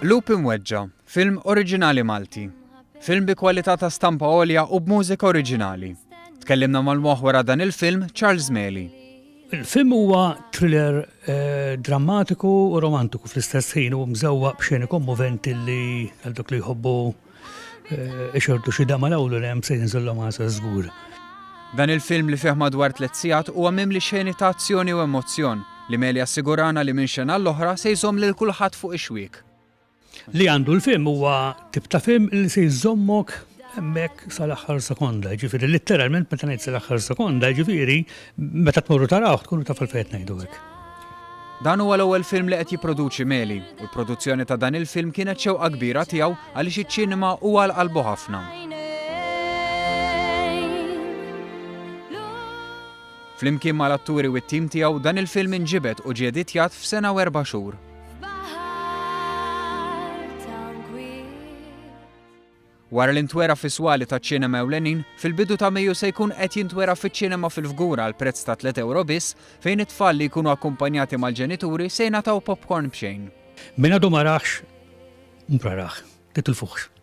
Lupi Mweġġa, film oriġinali Malti. Film bi kwalità ta' stampa għolja u b'mużika oriġinali. Tkellimna mal-moħwera dan il-film Charles Meli. Il-film huwa thriller drammatiku u romantiku fl-istess ħin u mżewwaq b'xeni kommoventi li għal dak li jħobbu ixordu xi dama l-ewwel hemm se jinżillhom għasa żgur. Dan il-film li fih madwar tliet sigħat huwa mimli xeni ta' azzjoni u emozzjon li Meli assigurana li minn xena l-oħra se jżomm lil kulħadd fuq ix-xwiek. Li għandu l-film huwa tip ta' film li se jżommok hemmhekk sal-aħħar sekonda, ġifieri litteralment meta ngħid sal-aħħar sekonda, ġifieri meta tmorru taraw tkunu taf il-fejt ngħidu hekk. Dan huwa l-ewwel film li qed jipproduċi Meli u l-produzzjoni ta' dan il-film kienet xewqa kbira tiegħu għaliex iċ-ċinema huwa għal qalbu ħafna. Flimkien mal-atturi u t-tim tiegħu dan il-film inġibed u ġie editjat f'sena u erba' xhur. Wara li ntwera fis-swali taċ-ċinema ewlenin, fil-bidu ta' Mejju se jkun qed jintwera fiċ-ċinema fil-Fgura għal prezz ta' 3 euro biss, fejn it-tfal li jkunu akkumpanjati mal-ġenituri se jingħataw popcorn b'xejn. Min għadu ma raħx, mhux rah, titilfuhx.